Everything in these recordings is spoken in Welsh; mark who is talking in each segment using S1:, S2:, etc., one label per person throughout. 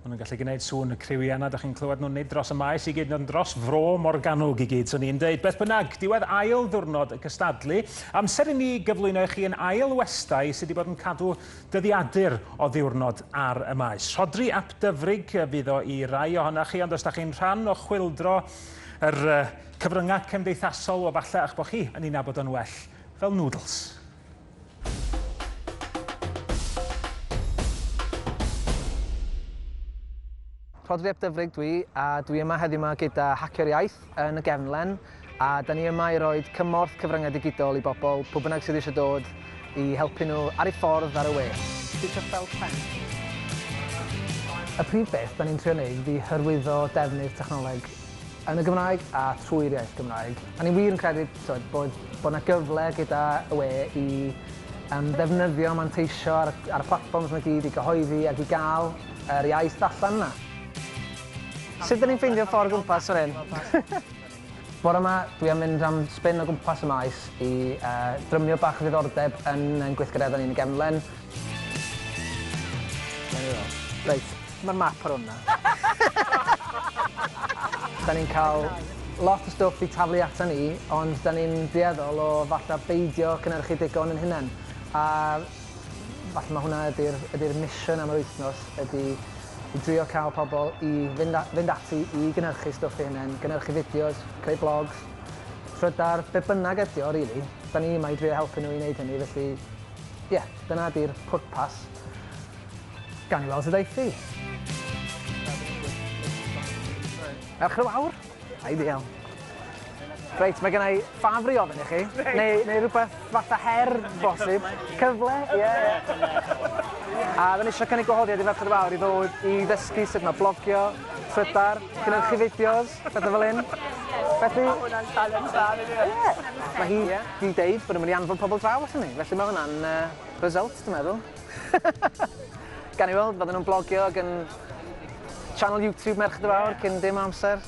S1: Maen nhw'n gallu gwneud sŵn y criw yna, da chi'n clywed nhw'n nid dros y maes i gyd, nid dros fro Morgannwg i gyd, swn i'n dweud. Beth bynnag, diwedd ail ddwrnod y cystadlu, amser i ni gyflwyno i chi yn ail westai sydd wedi bod yn cadw dyddiadur o ddiwrnod ar y maes. Rhodri ap Dyfrig fydd o i rai ohonoch chi, ond os da chi'n rhan o chwildro yr cyfryngau cymdeithasol, o falle a'ch bod chi yn ei nabod o'n well fel Noodles. Rhodri ap Dyfrig dwi, a dwi yma heddiw yma gyda Hacio'r Iaith yn y Gefnlen, a da ni yma i roi cymorth cyfryngau digidol i bobl, pwy bynnag sydd eisiau dod, i helpu nhw ar ei ffordd ar y we. Y prif beth da ni'n trio wneud ydi hyrwyddo defnydd technoleg yn y Gymraeg a trwy'r iaith Gymraeg. A ni wir yn credu tywed, bod, bod yna gyfle gyda y we i um, ddefnyddio, manteisio ar, ar y platforms yma gyd i gyhoeddi ac i gael yr iaith allan yna. Sut dyn ni'n ffeindio ffordd gwmpas o'r un? Bore yma, dwi am mynd am spin o gwmpas y maes i uh, drymio bach o ddiddordeb yn, yn gweithgareddau ni'n y gefnlen. Reit, ma'r map ar wnna. 'Dan ni'n ca'l lot o stwff i taflu atan ni, ond 'dan ni'n dueddol o falla beidio cynyrchu digon yn hunen, a falla ma' hwnna ydi'r ydi'r mission am yr wythnos ydi i drio ca'l pobol i fynd a- fynd ati i gynyrchu stwff eu hunen, gynyrchu fideos, creu blogs, trydar, be' bynnag ydi o rili, 'dan ni yma i drio helpu nhw i neud hynny felly Ie, dyna di'r pwrpas. Gawn ni weld sut aeth hi. Ewch yn fawr. Ideal. Reit, mae gennau ffafr i ofyn i chi, neu, neu rhywbeth fatha her, bosib. Cyfle, ie. Yeah. A dda ni eisiau cynnig gwahoddiad i Ferched Fawr i ddod i ddysgu sut mae blogio, Twitter, gynhyrchu fideos, pethau fel hyn. Felly... Mae hwnna'n challenge dda, nid yw e? Ie. Mae hi... Ni'n deud bod yn mynd i anfon pobl draw ato ni, felly mae hwnna'n uh, result, dwi'n meddwl. Gan i weld, bydden nhw'n blogio ag yn channel YouTube Merched y Fawr cyn dim amser.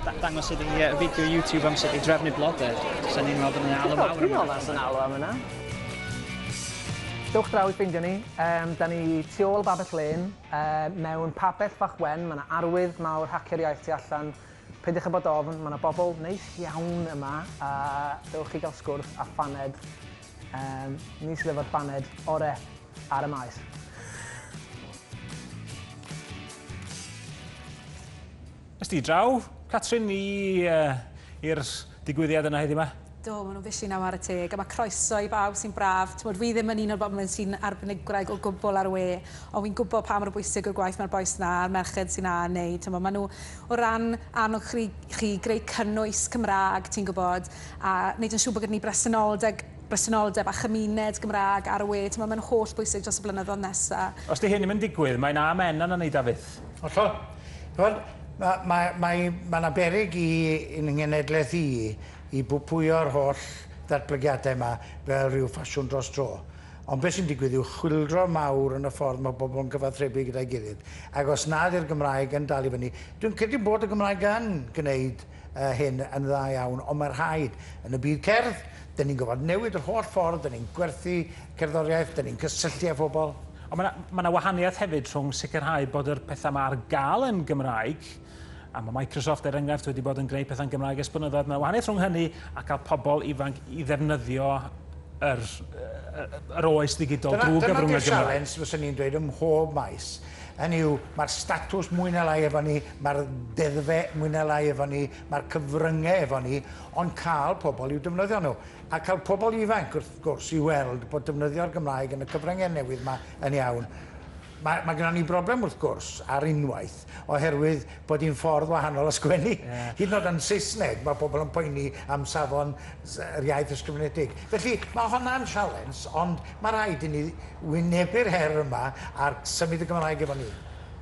S1: Da dangos ydi uh, fideo YouTube am sut i drefnu blodau. Sa'n ni'n meddwl bod yna alw mawr. Dwi'n meddwl bod yna alw am yna. Dewch draw i ffeindio ni. Um, da ni tu ôl Babell Lane, um, mewn papell fach wen, mae yna arwydd mawr hacio'r iaith tu allan Peidiwch â bod ofn, mae 'na bobl neis iawn yma a dewch i gael sgwrs a phaned. Um, ni sydd efo'r baned ore ar y maes. Ysdi draw, Catrin, i, uh, i'r digwyddiad yna heddi yma? Do, maen nhw'n fishi na ware teg, a mae croeso i bawb sy'n braf. Timod, fi ddim yn un o'r bobl yn sy'n arbenigreg o gwbl ar y we, ond fi'n gwybod pa mor bwysig yw'r gwaith mae'r bois 'na a'r merched sy'n a wneud. Timod, maen nhw o ran annog chri, chi greu cynnwys Cymraeg, ti'n gwybod, a wneud yn siŵr bod gyda ni bresenoldeg, bresenoldeb a chymuned Gymraeg ar y we. Timod, maen nhw'n holl bwysig dros y blynyddoedd nesaf. Os 'di hyn ddim yn digwydd, mae'n A Menna na wneud a fyth. Hollol. Timod, mae, mae, mae, mae 'na beryg i, i'n nghenedlaeth i, i bwpwyo'r holl ddatblygiadau yma fel rhyw ffasiwn dros dro. Ond beth sy'n digwydd yw chwyldro mawr yn y ffordd mae pobl yn cyfathrebu gyda'i gilydd. Ac os nad yw'r Gymraeg yn dal i fyny, dwi'n credu bod y Gymraeg yn gwneud hyn yn dda iawn, ond mae rhaid. Yn y byd cerdd, dyn ni'n gorfod newid yr holl ffordd dyn ni'n gwerthu cerddoriaeth, dyn ni'n cysylltu â phobl. Ond mae 'na wahaniaeth hefyd rhwng sicrhau bod yr pethau 'ma ar gael yn Gymraeg, A mae Microsoft, er enghraifft, wedi bod yn gwneud pethau'n Gymraeg ers blynyddoedd. Mae wahaniaeth rhwng hynny a cael pobl ifanc i ddefnyddio yr, yr oes ddigidol drwy gyfrwng y Gymraeg. Dyna sialens, fyswn ni'n dweud, ym mhob maes. Hynny yw, mae'r statws mwy na lai efo ni, mae'r deddfe mwy na lai efo ni, mae'r cyfryngau efo ni, ond cael pobl i'w defnyddio nhw. A cael pobl ifanc, wrth gwrs, i weld bod defnyddio'r Gymraeg yn y cyfryngau newydd yma yn iawn. Mae, mae gyda ni broblem wrth gwrs, ar unwaith, oherwydd bod hi'n ffordd wahanol o sgwennu. Yeah. Hyd yn oed yn Saesneg, mae pobl yn poeni am safon yr iaith ysgrifenedig. Felly, mae honna'n sialens, ond mae rhaid i ni wynebu'r her yma a symud y Gymraeg efo ni.